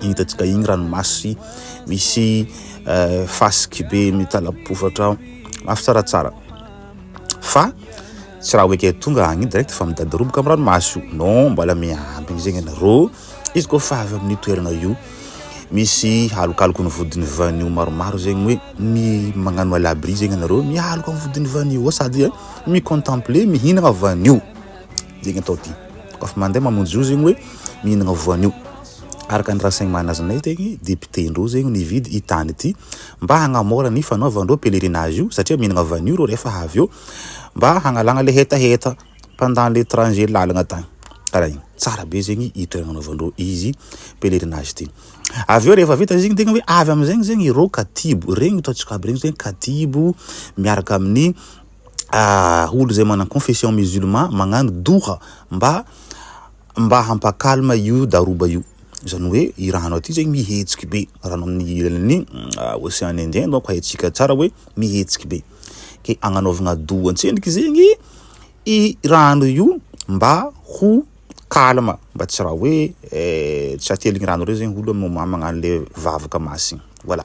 hitantsika iny ranomasy misy eh, fasiky be mitalabofotra ao mafy tsaratsara fa tsy raha oeke tonga agny direct fa midadiroboka amin'ny ranomasy io non mbola miambigny zegny anareo izy koa fa avy amin'ny toerana io misy alokaloky ny vodin'ny vanio maromaro zegny hoe mi magnano alabri zegny anareo mialoka ny vodin'ny vanio sady eh, mi contempler mihinagna vanio Dia ny atao dia koa fa mandeha mamonjy io zegny hoe mihinagna voanio. Araka ny raha saigny manazinay tegny député ndreo zegny nividy i tany ity mba hagnamora ny fanaovandreo pèlerinage io satria mihinagna vanio reo rehefa avy eo mba hagnalagna le hetaheta pendant le trajet lalagna tany kara igny. Tsara be zegny i toeragna anaovandreo izy pèlerinage ty. Avy eo rehefa vita zegny tegna hoe avy amizegny zegny ireo katibo regny ataontsika aby regny zegny katibo miaraka amin'ny olo izay manan confession musulman magnano doha mba mba hampa calme io daroba io zany hoe i raha anao ty zany mihetsiky be raha anao amin'ny ilany ocean indien donc haintsika tsara hoe mihetsiky be ke agnanaovagna doha an-tsendriky zegny i rano io mba ho calme mba tsy raha hoe tsy ateligny rano reo zegny olo magnano le vavaka masina voilà.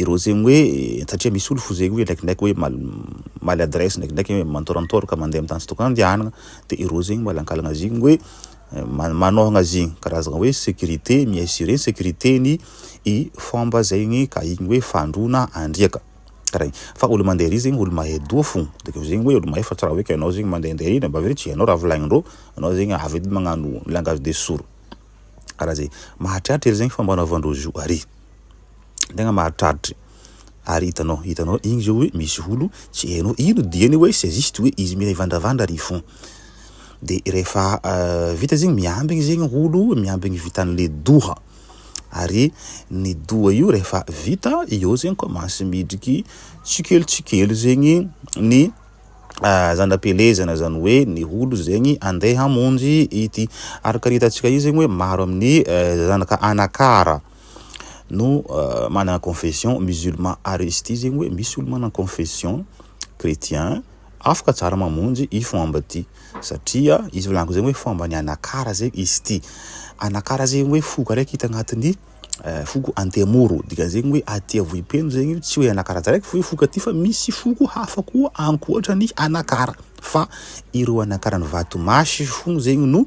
ireo zegny hoe satria misy olo fo zegny hoe ndraikindraiky hoe mamaly adresse ndraikindraiky hoe mantorantora ka mandeha amin'ny tany tsy tokony handehanana de ireo zegny malankalana zegny hoe eh, manôhagna zegny karazagna hoe sécurité mi-assurer ny sécurité-ny i fomba zegny ka igny hoe fandroana andriaka karaha igny fa olo mandeha ery zegny olo mahay doha fo de keo zegny hoe olo mahay fa tsy raha hoe ka ianao zegny mandehandeha ery na bavely tsy ianao raha volagnindreo ianao zegny avy edy magnano langage de sourd karaha zegny mahatriatra ery zegny fomba anaovandreo zo ary tegna mahatradry ary hitanao hitanao igny zao hoe misy olo tsy hainao ino diany hoe c'est juste hoe izy mivandravandra ary fon de rehefa vita zegny miambigny zegny olo miambigny vitan'le doha ary ny doha io rehefa vita eo zegny commence midriky tsikelo tsikelo zegny ny zana-pelezana zany hoe ny olo zegny andeha hamonjy ity araka ny hitantsika io zegny hoe maro amin'ny zanaka anakara no manana confession musulman ary izy ity zegny hoe misy olo manana confession chretien afaka tsara mamonjy i fomba ity satria izy volaniko zegny hoe fomba ny anakara zegny izy ity anakara zegny hoe foko araiky hita agnatin'ny eh, foko antemoro dikan'zegny hoe aty avohipeno zegny tsy hoe anakara tsaraiky fo foko aty fa misy foko hafa koa ankoatra ny anakara fa ireo anakaran'ny vatomasy fo zegny no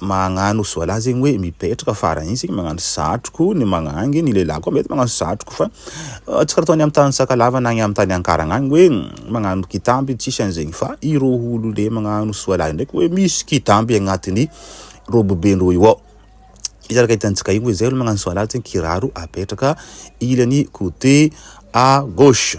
magnano soalà zegny hoe mipetraka farany igny sika magnano satroko ny magnangy ny lehilahy koa mety magnano satroko fa tsy karaha ataony am tany sakalava na am tany ankaragna agny hoe magnano kitamby tsisy an'zegny fa ireo olo le magnano soalà ndraiky hoe misy kitamby agnatiny robe be ndreo io ao izy araka hitantsika io hoe zay olo magnano soalà zegny kiraro apetraka ilany cote à gauche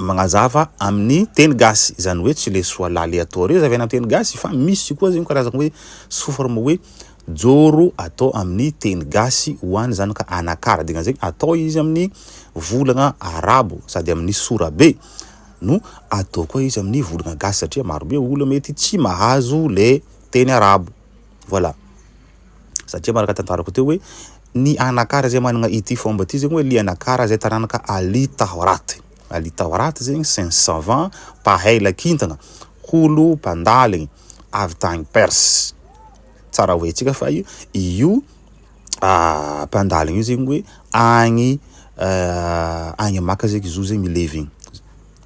magnazava amin'ny teny gasy izany hoe tsy le soa laly atao reo zavena teny gasy fa misy koa zegny karazagna hoe soforma hoe joro atao amin'ny teny gasy ho any zany ka anakara dina zegny atao izy amin'ny volagna arabo sady amin'ny sorabe no atao koa izy amin'ny volagna gasy satria marobe olo mety tsy mahazo le teny arabo Voilà. Satria manaraka tantarako teo hoe ny anakara izay manana ity fomba ity zegny hoe le anakara izay taranaka Ali Tahorat. Ali Tahorat zegny c'est un savant mpahaila kintana, holo mpandaligny avy tagny Perse. Tsara ho haintsika fa i- io mpandaligny io zegny hoe agny agny Maka zegny izy io zegny mi-live egny.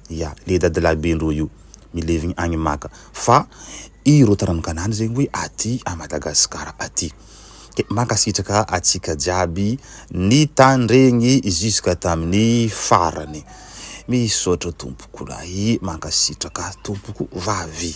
Ia le dadilahy be ndroa io milevigny agny maka fa ireo taranonkanany zegny hoe aty a Madagasikara aty. Dia mankasitraka atsika jiaby nitandregny jusque tamin'ny farany. Misaotra tompoko lahy, mankasitraka tompoko vavy.